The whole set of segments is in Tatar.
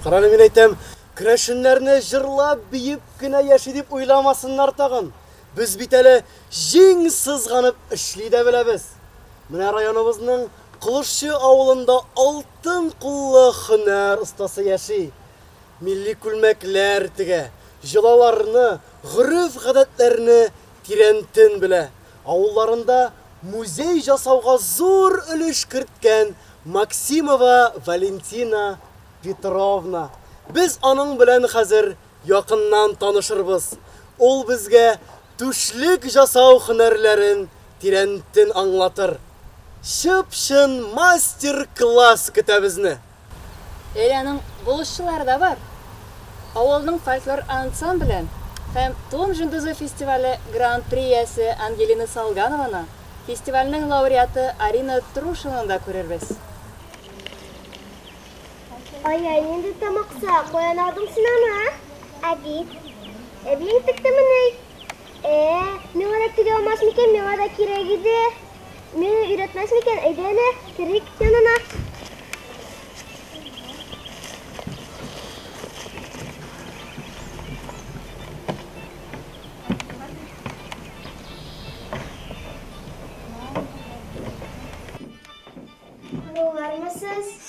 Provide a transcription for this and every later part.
Караны мин әйтәм, Крәшеннәрне җырлап, биеп кенә яши дип уйламасыннар тагын. Без бит әле җиң сызганып эшли дә беләбез. Менә районыбызның Кылышчы авылында алтын куллы хөнәр остасы яши. Милли күлмәкләр тегә, җылаларны, гореф-гадәтләрне Тирәнтен белә авылларында музей жасауга зур өлеш керткән Максимова Валентина Петровна. Без аның белән хәзер якыннан танышырбыз. Ул безгә түшлек жасау һөнәрләрен тирәнтен аңлатыр. Чып-чын мастер-класс көтә безне! Эряның булышчылары да бар. Авылның фольклор ансамбле һәм Тун җондызы фестивале гран-при иясе Ангелина Салганованы, фестивальнең лауреаты Арина Трушинаны да күрербез. Ай-яй, нинди тамакса, каян алдың син аны, ә? Әби, әбиең текте мени? Ә, миңа да тире алмас микән, миңа да кирәк иде. Миңа өйрәтмәс микән, әйдә әле, керик янына.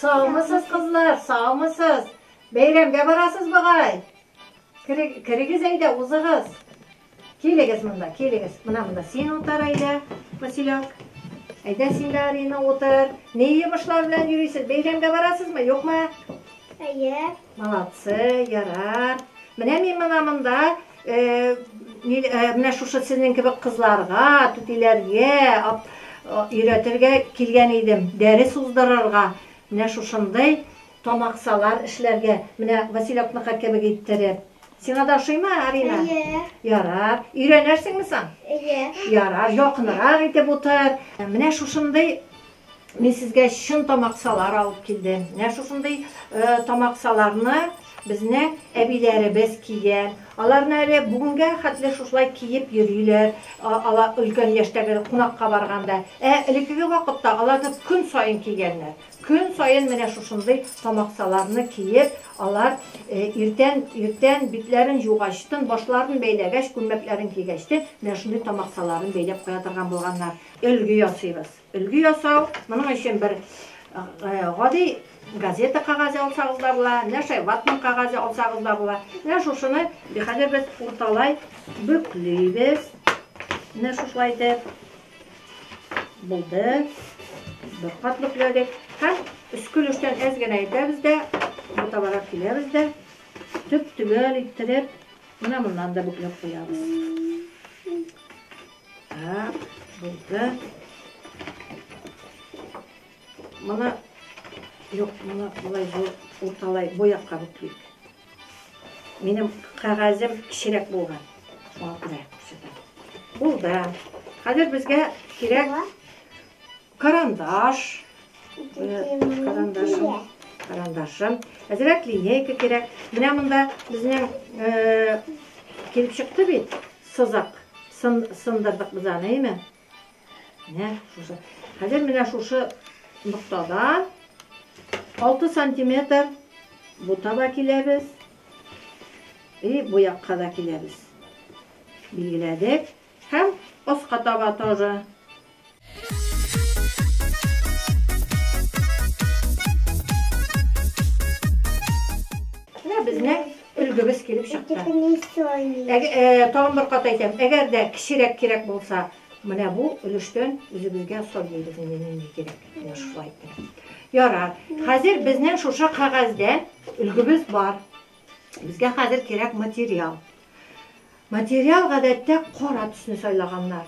Саумысыз, кызлар, саумысыз. Бәйрәмгә барасыз бугай. Керегез әйдә, узыгыз. Килегез монда, килегез. Мына монда син утыр әйдә, Василек. Әйдә син дә Арина утыр. Ни йомышлар белән йөрисез? Бәйрәмгә барасызмы, юкмы? Әйе. Молодцы, ярар. Менә мин мына монда э, э, менә шушы сезнең кебек кызларга, түтиләргә өйрәтергә килгән идем. Дәрес уздырырга. Менә шушындый Тамаксалар эшләргә, менә Василёкныкы кебек иттереп. Сиңа да ошыймы, Арина? Әйе. Ярар. Өйрәнерсеңме соң? Әйе. Ярар, якынрак итеп утыр. Менә шушындый мин сезгә чын тамаксалар алып килдем. Менә шушындый тамаксаларны безне әбиләребез кия. Аларны әле бүгенгә хәтле шушылай киеп йөриләр. Алар өлкән яшьтәге кунакка барганда. Ә элеккеге вакытта аларны көн саен кигәннәр. Көн саен менә шушындый тамаксаларны киеп, алар иртән, иртән битләрен җугачтын, башларын бәйләгәч, күлмәкләрен кигәчтен, менә шундый тамаксаларын бәйләп куя торган булганнар. Өлге ясыйбыз. Өлге ясау, моның өчен бер гади газета кагазе алсагыз да була, менә шулай ватман кагазе алсагыз да була. Менә шушыны хәзер без урталай бөклибез. Менә шушылай итеп. Булды. Бер кат бөкләдек. Һәм өске өлештән әз генә итәбез дә, бутабарак киләбез дә, төп-төгәл иттереп, менә моннан да бөкләп куябыз. Так, булды. Моны, юк, моны болай, урталай, бу якка бүклик. Минем кәгазем кечерәк булган. Шуңа күрә күрсәтәм. Булды. Хәзер безгә кирәк карандаш. Карандашым. Карандашым. Әзрәк линейка кирәк. Менә монда безнең килеп чыкты бит сызык. Сындырдык без аны, әйме? Менә шушы. Хәзер менә шушы ноктадан 6 сантиметр бу таба киләбез. И бу якка да киләбез. Билгеләдек. Һәм аска таба тоже. Менә безнең Өлгебез килеп чыкты. Тагын бер кат әйтәм, әгәр дә кечерәк кирәк булса, менә бу өлештән үзегезгә сайлыйбыз инде нинди кирәк. Менә шулай итеп. Ярар. Хәзер безнең шушы кәгазьдә өлгебез бар. Безгә хәзер кирәк материал. Материал гадәттә кара төсне сайлаганнар.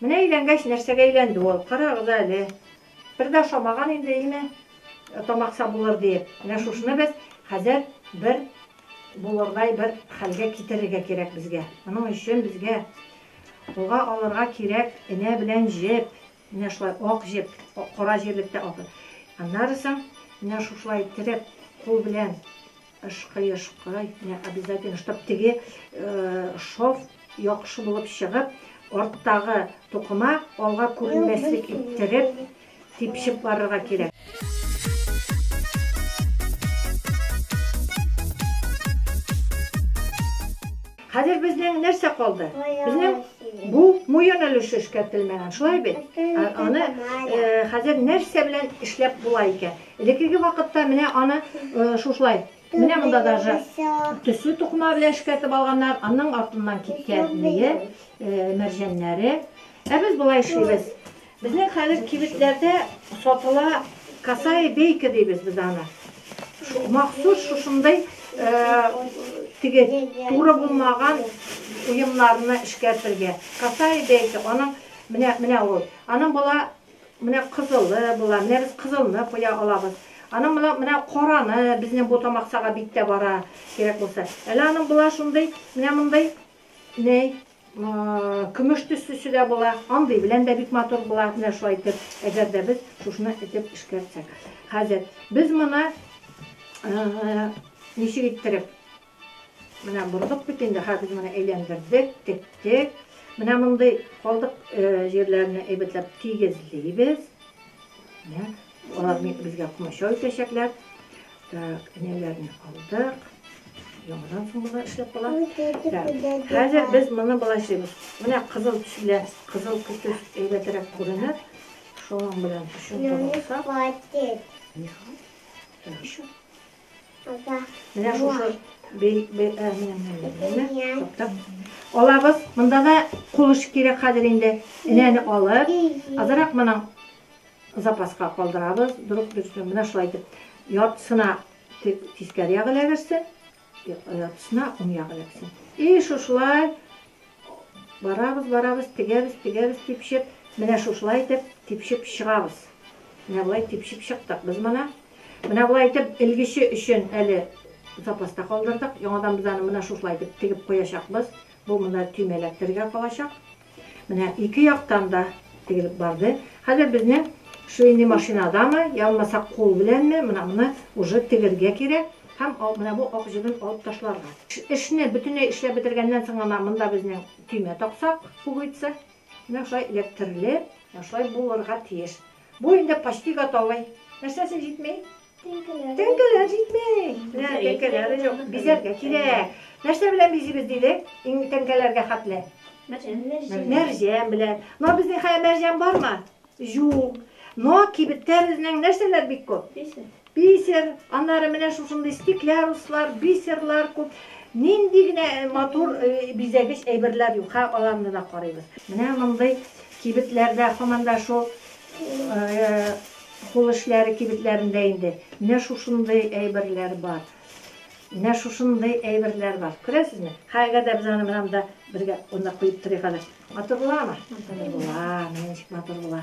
Менә өйләнгәч нәрсәгә әйләнде ул, карагыз әле. Бер дә ошамаган инде, име, тамак сабулыр диеп. Менә шушыны без хәзер бер булырдай бер хәлгә китерергә кирәк безгә. Моның өчен безгә уга алырга кирәк энә белән җеп. Менә шулай ак җеп, кара җирлектә ак. Аннары соң менә шушылай терәп кул белән. Ышкый ышкый менә обязательно чтоб теге шов яхшы булып чыгып арттагы тукыма алга күренмәслек иттереп типшеп барырга кирәк. Хәзер безнең нәрсә калды? Безнең бу муен өлеше эшкәртелмәгән, шулай бит? Аны э, хәзер нәрсә белән эшләп була икән? Элеккеге вакытта менә аны шушылай, менә монда даже төсле тукыма белән эшкәртеп алганнар, аның артыннан киткән мие, мәрҗәннәре. Ә без болай эшлибез. Безнең хәзер кибетләрдә сатыла касая бейка дибез без аны. Махсус шушындай теге туры булмаган уемнарны эшкәртергә. Касая бейка, аның менә менә ул. Аның була Менә кызылы була, менә без кызылны куя алабыз. Аның моны менә караны, безнең бу тамаксага бик тә бара, кирәк булса. Әле аның була шундый, менә мондый, ней, көмеш төслесе дә була. Андый белән дә бик матур була, менә шулай итеп, әгәр дә без шушны этеп эшкәртсәк. Хәзер без моны ничек иттереп? Менә бордык бит инде, хәзер менә әйләндердек, тектек. Менә мондый калдык җирләрне әйбәтләп тигезлибез. Менә алар безгә комачау итәчәкләр. Так, энәләрне алдык. Яңадан соң болар эшләп кала. Хәзер без моны болай эшлибез. Менә кызыл төс белән, кызыл төс әйбәтрәк күренә. Шуның белән төшен тотсак. Еще. Менә шушы алабыз. Монда да кулыш кирәк хәзер инде. Энәне алып, азрак моның запаска калдырабыз. Дөрүк дөрестән менә шулай итеп яртысына тискәре ягы эләгерсен, яртысына уң ягы эләгсен. И шушылай барабыз, барабыз, тегәбез, тегәбез, типшеп, менә шушылай итеп типшеп чыгабыз. Менә болай типшеп чыктык без моны. Менә болай итеп, элгече өчен әле запаста калдырдык. Яңадан без аны менә шушылай итеп тегеп куячакбыз. Бу монда төймә эләктерергә калачак. Менә ике яктан да тегелеп барды. Хәзер безнең швейный машинадамы, я булмаса кул беләнме, менә моны уже тегергә кирәк һәм менә бу ак җебен алып ташларга. Эшне бөтенләй эшләп бетергәннән соң гына монда безнең төймә таксак, пуговица. Менә шулай эләктерелеп, менә шулай булырга тиеш. Бу инде почти готовый. Нәрсәсе җитми? Теңкәләр. Теңкәләр җитми. Менә теңкәләре юк. Бизәргә кирәк. Нәрсә белән бизибез дидек? Иң теңкәләргә хәтле. Мәрҗән белән. Но безнең хәя мәрҗән бармы? Юк. Но кибеттә безнең нәрсәләр бик күп? Бисер, аннары менә шушындый стекляруслар, бисерлар күп. Нинди генә матур бизәгеч әйберләр юк, ха, аларны да карыйбыз. Менә мондый кибетләрдә, һаман да шул кул эшләре кибетләрендә инде менә шушындый әйберләр бар. Менә шушындый әйберләр бар. Күрәсезме? Хәзер дә без аны монда бергә онда куеп торыйк әле. Матур буламы? Матур була, менә ничек матур була.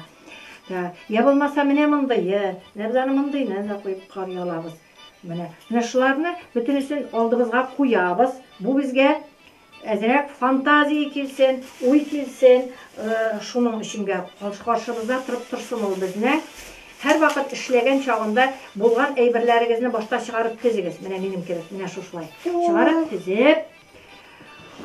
Ә, йә булмаса менә мондые, менә без аны мондыйны да куеп карый алабыз. Менә, менә шуларны бөтенесен алдыбызга куябыз. Бу безгә әзрәк фантазия килсен, уй килсен, э, шуның өченгә каршыбызда торып торсын ул безнең. Һәрвакыт эшләгән чагында булган әйберләрегезне башта чыгарып тезегез. Менә минем кебек, менә шушылай. Чыгарып тезеп,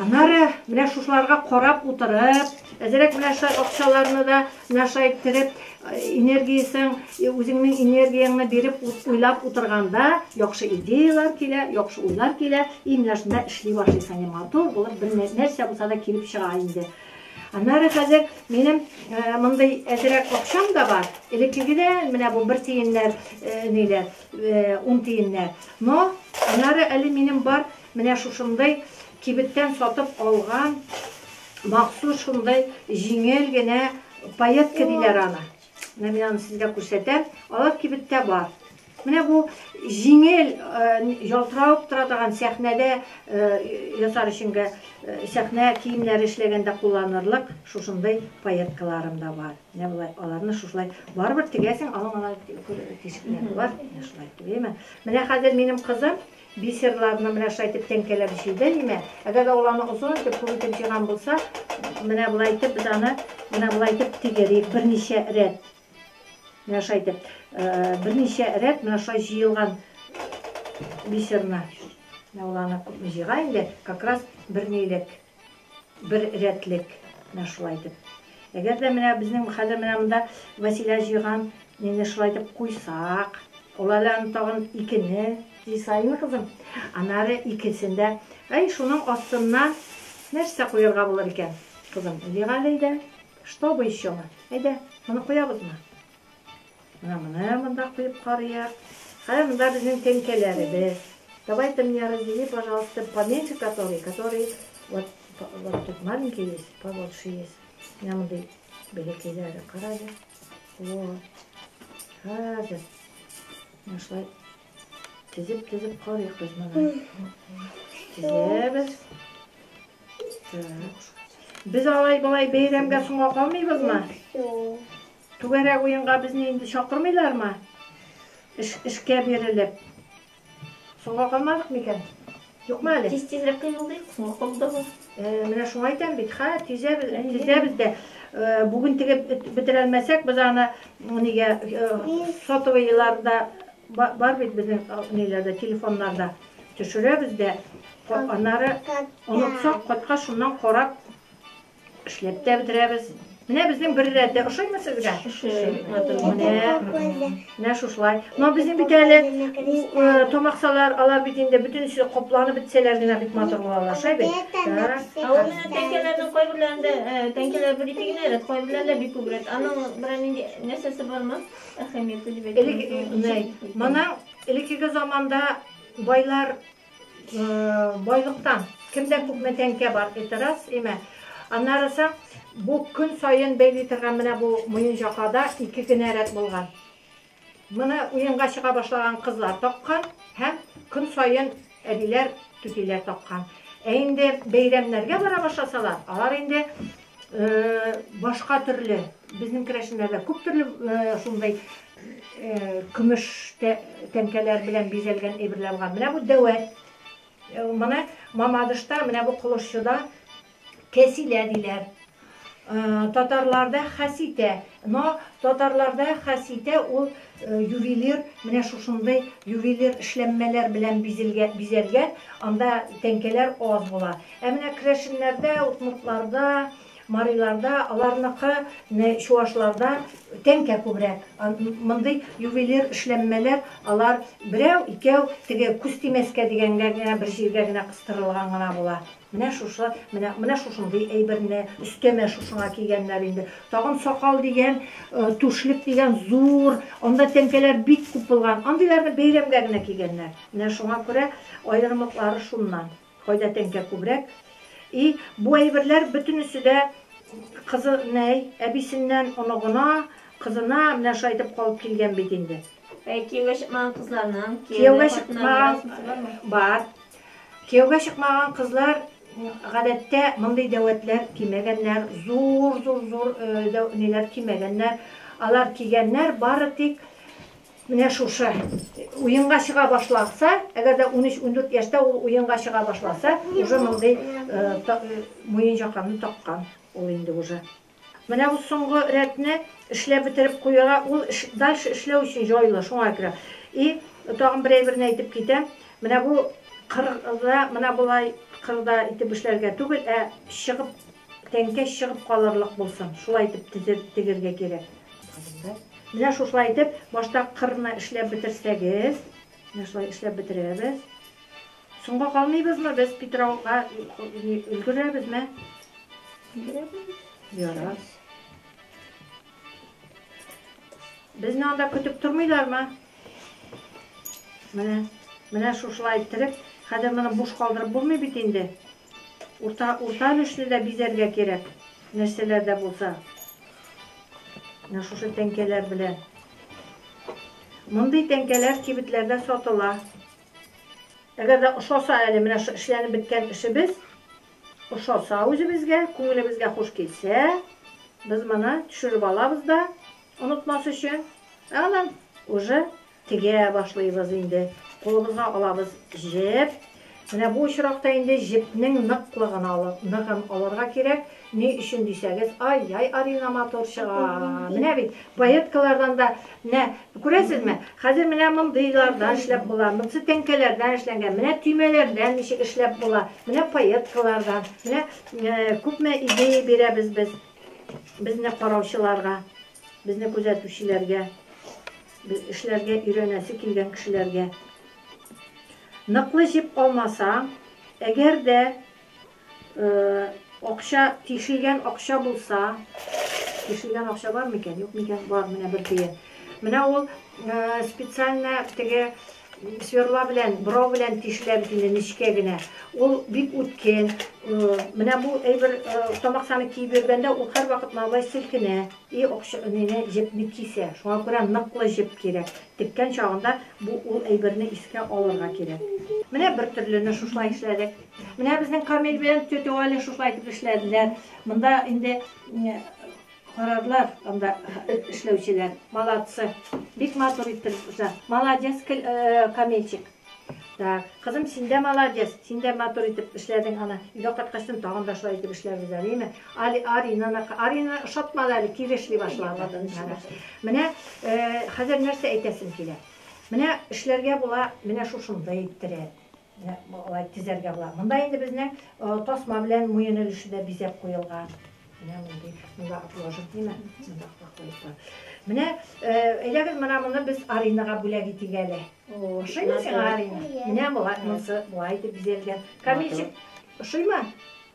Аннары менә шушыларга карап утырып, әзерәк менә шулай акчаларны да менә шулай иттереп, энергиясен, үзеңнең энергияңне биреп уйлап утырганда, яхшы идеялар килә, яхшы уйлар килә, и менә шунда эшли башлыйсың, и матур булып бер нәрсә булса да килеп чыга инде. Аннары хәзер минем э, мондый әзерәк акчам да бар. Элеккегедән менә бу бер тиеннәр, э, ниләр, э, ун тиеннәр. Но аннары әле минем бар Менә шушындый кибеттән сатып алган махсус шундый җиңел генә паетка диләр аны. Менә мин аны сезгә күрсәтәм. Алар кибеттә бар. Менә бу җиңел ялтыравык тора торган сәхнәдә ясар өченгә сәхнә киемнәре эшләгәндә кулланырлык шушындый паеткаларым да бар. Менә болай аларны шушылай барыбер тегәсең, аның ана тишекләре бар. Менә шулай тегәме. Менә хәзер минем кызым Бисерларны менә шулай итеп тәңкәләп җыйды, димә. Әгәр дә ул аны озын итеп, күп итеп җыйган булса, менә болай итеп без аны менә болай итеп тигерик, берничә рәт. Менә шулай итеп, берничә рәт менә шулай җыелган бисерны. Менә ул аны күпме җыйган инде, как раз бернилек. Бер рәтлек менә шулай итеп. Әгәр дә менә безнең хәзер менә монда Вәсилә җыйган нене шулай итеп куйсак, ул әле аны тагын икене. Җый саен, кызым. Аннары икесен дә. Әй, шуның астына нәрсә куярга булыр икән, кызым? Җыйган әле, әйдә. Что бы ещё мы? Әйдә, моны куябызмы? Менә моны монда куеп карыйк. Кая монда безнең тәңкәләребез. Давайте мне раздели, пожалуйста, поменьше который, который вот вот тут маленький есть, побольше есть. Менә мондый бәләкәйләре карале. Вот. Хәзер. Менә шулай тезеп тезеп карыйк без моны. Тезәбез. Так. Без алай-болай бәйрәмгә соңга калмыйбызмы? Түгәрәк уенга безне инде чакырмыйлармы? Эш, эшкә бирелеп. Соңга калмадык микән? Юкмы әле? Тиз тизрәк кыймылдыйк, соңга калуда бар. Э, менә шуңа әйтәм бит, ха, тизәбез, тизәбез дә. Э, бүген тегеп бетерә алмасак, без аны нигә э, сотовыйларда бар бит безнең ниләрдә, телефоннарда төшерәбез дә. Аннары онытсак, кайткач шуннан карап Эшләп тә бетерәбез. Менә безнең бер рәттә ошыймы сезгә? Менә, менә шушылай. Но безнең бит әле э, тамаксалар, алар бит инде бөтенесе капланып бетсәләр генә бит матур булалар, шай бит. Ә ул менә тәңкәләрнең кайберләрендә, э, тәңкәләр бер ике генә рәт, кайберләрендә бик күп рәт. Аның берәр нинди нәрсәсе бармы? Әһәмияте дип әйтәм. Элек, э, менә, моның элеккеге заманда байлар Байлыктан кемдә күпме тәңкә бар, это раз, имә. Аннарысы бу көн саен бәйли торган менә бу муенҗакада ике генә рәт булган. Моны уенга чыга башлаган кызлар таккан һәм көн саен әбиләр, түтиләр таккан. Ә инде бәйрәмнәргә бара башласалар, алар инде башка төрле безнең керәшеннәрдә күп төрле шундай көмеш тәңкәләр белән бизәлгән әйберләр бар менә бу дәвәт моны мамадышта менә бу кылышчыда кәсилә диләр татарларда хәситә но татарларда хәситә ул Ювелир менә шушындый ювелир эшләнмәләр белән бизәлгән, анда тәңкәләр аз була. Ә менә керәшеннәрдә, удмуртларда, мариларда, аларныкы чувашларда тәңкә күбрәк. Мондый ювелир эшләнмәләр алар берәү, икәү, теге күз тимәскә дигәнгә генә бер җиргә генә кыстырылган гына була. Менә шушы, менә, менә шушындый әйберне, өстәмә шушыңа кигәннәр инде. Тагын сакал дигән, түшлек дигән зур, анда тәңкәләр бик күп булган. Андыйларны бәйрәмгә генә кигәннәр. Менә шуңа күрә аерымлыклары шуннан. Кайда тәңкә күбрәк. И, бу әйберләр бөтенесе дә кызы, нәй, әбисеннән оныгына, кызына менә шулай итеп калып килгән бит инде. Ә кияүгә чыкмаган кызларның, кияүгә чыкмаган, бар. Кияүгә чыкмаган кызлар, гадәттә, мондый дәвәтләр кимәгәннәр, зур-зур-зур ниләр кимәгәннәр. Алар кигәннәр бары тик менә шушы. Уенга чыга башласа, әгәр дә унөч-ундүрт яшьтә ул уенга чыга башласа, уже мондый муенҗаканы таккан ул инде уже. Менә бу соңгы рәтне эшләп бетереп куярга, ул дальше эшләү өчен җайлы, шуңа күрә. И, тагын бер әйберне әйтеп китәм, менә бу кырда менә болай кырда итеп эшләргә түгел, ә чыгып, тәңкә чыгып калырлык булсын, шулай итеп тезеп тегергә кирәк. Менә шушылай итеп, башта кырны эшләп бетерсәгез, менә шулай эшләп бетерәбез. Соңга калмыйбызмы без Питрауга өлгерәбезме? Өлгерәбез. Ярар. Безне анда көтеп тормыйлармы? Менә, менә шушылай иттереп, хәзер моны буш калдырып булмый бит инде. Урта, урта өлешне дә бизәргә кирәк, нәрсәләр дә булса. Менә шушы тәңкәләр белән. Мондый тәңкәләр кибетләрдә сатыла. Әгәр дә ошаса әле менә шо эшләнеп беткән эшебез, ошаса үзебезгә, күңелебезгә хуш килсә, без моны төшереп алабыз да, онытмас өчен, ә аннан уже тегә башлыйбыз инде. Кулыбызга алабыз җеп. Менә бу очракта инде җепнең ныклыгын алып, ныгын алырга кирәк. Ни өчен дисәгез, ай-яй, Арина матур чыга. Менә бит, пайеткалардан да, менә, күрәсезме, хәзер менә мондыйлардан эшләп була, монсы тәңкәләрдән эшләнгән, менә төймәләрдән ничек эшләп була, менә пайеткалардан, менә күпме идея бирәбез без безне караучыларга, безне күзәтүчеләргә, эшләргә өйрәнәсе килгән кешеләргә. Ныклы җеп алмасаң, әгәр дә Акча, тишелгән акча булса. Тишелгән акча бар микән? Юк микән? Бар, менә бер тиен. Менә ул специально теге сверла белән, брау белән тишелә бит инде нечкә генә. Ул бик үткен. Менә бу әйбер тамаксаны киеп йөргәндә ул һәрвакыт малай селкенә. И акча нене җепне кисә. Шуңа күрә ныклы җеп кирәк. Теккән чагында бу ул әйберне искә алырга кирәк. Менә бер төрлене шушылай эшләдек. Менә безнең Камил белән тетя Валя шушылай итеп эшләделәр. Монда инде карарлар анда эшләүчеләр. Молодцы. Бик матур итеп эшлә. Молодец, э, Камилчик. Так, кызым, син дә молодец. Син дә матур итеп эшләдең ана. Өйгә кайткачтын тагын да шулай итеп эшләрбез әле, яме. Али Арина, Арина шатмады әле, килешли башлады. Менә э, хәзер нәрсә әйтәсем килә. Менә эшләргә була, менә шушында иттерә. Болай тезәргә була. Монда инде безнең тасма белән муен өлеше дә бизәп куелган. Менә мондый, монда ложек димә, монда куеп куя. Менә әйдәгез мына моны без Аринага бүләк итик әле. Ошыймы сиңа Арина? Менә болай монсы болай итеп бизәлгән. Камилчик, ошыймы?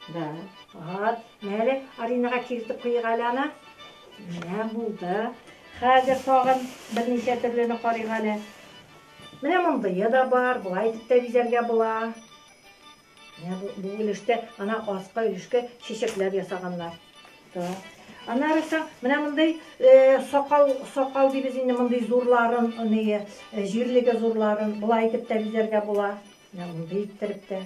Да. Вот. Менә Аринага киертеп куйыйк әле аны. Менә булды. Хәзер тагын берничә төрлене карыйк әле. Менә мондые да бар, болай итеп тә бизәргә була. Менә бу, бу өлештә, ана аска өлешкә чәчәкләр ясаганнар. Да. Аннары соң менә мондый э, сакал, сакал дибез инде мондый зурларын, ные, э, җирлеге зурларын, болай итеп тә бизәргә була. Менә мондый иттереп тә.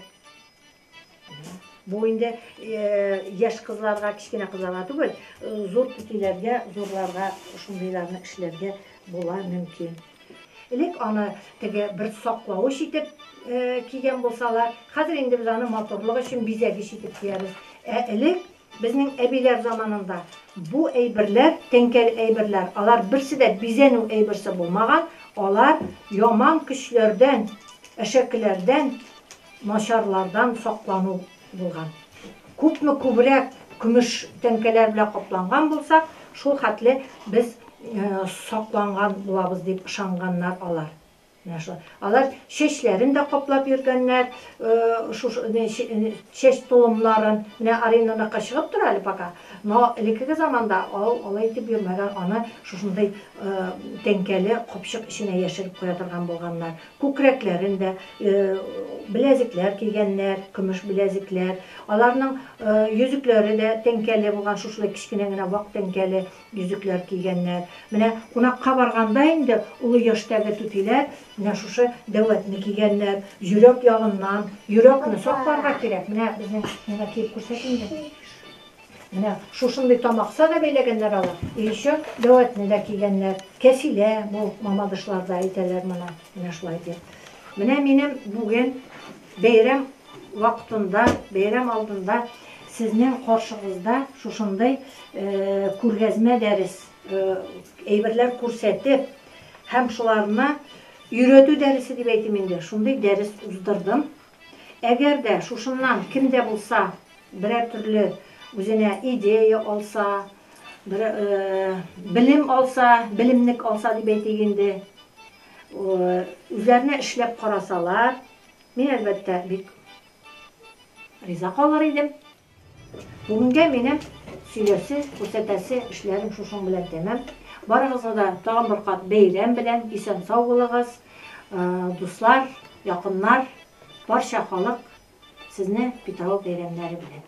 Бу инде яшь кызларга, кечкенә кызларга түгел, зур түтиләргә, зурларга шундыйларны эшләргә була мөмкин. Элек аны теге бер саклавыч итеп кигән булсалар, хәзер инде без аны матурлык өчен бизәгеч итеп киябез. Ә элек Безнең әбиләр заманында бу әйберләр, тәңкәле әйберләр, алар берсе дә бизәнү әйберсе булмаган, алар яман көчләрдән, әшәкеләрдән, начарлардан саклану булган. Күпме күбрәк көмеш тәңкәләр белән капланган булсак, шул хәтле без сакланган булабыз, дип ышанганнар алар. Менә шулай. Алар чәчләрен дә каплап йөргәннәр, чәч толымнарын. Менә Аринаныкы чыгып тора әле пока, но элеккеге заманда ул алай итеп йөрмәгән, аны шушындый тәңкәле капчык эченә яшереп куя торган булганнар. Күкрәкләрен дә беләзекләр кигәннәр, көмеш беләзекләр. Аларның йөзекләре дә тәңкәле булган, шушылай кечкенә генә вак тәңкәле. Йөзекләр кигәннәр. Менә кунакка барганда инде олы яшьтәге түтиләр менә шушы дәвәтне кигәннәр. Йөрәк ягыннан. Йөрәкне сакларга кирәк. Менә безнең миңа киеп күрсәт инде. Менә шушындый тамакса да бәйләгәннәр алар. И еще дәвәтне дә кигәннәр. Кәфилә бу мамадышларда әйтәләр моны. Менә шулай ди. Менә минем бүген бәйрәм вакытында, бәйрәм алдында сезнең каршыгызда шушындый күргәзмә дәрес әйберләр күрсәтеп һәм шуларны өйрәтү дәресе дип әйтим инде, шундый дәрес уздырдым. Әгәр дә шушыннан кем дә булса берәр төрле үзенә идея алса, бер белем алса, белемнек алса дип әйтик инде, үзләренә эшләп карасалар, мин, әлбәттә, бик риза калыр идем. Бүгенгә минем сөйләсе, күрсәтәсе эшләрем шушың белән тәмам. Барыгызны да тагын бер кат бәйрәм белән, исән-сау булыгыз, дуслар, якыннар, барча халык сезне Питрау бәйрәмнәре белән.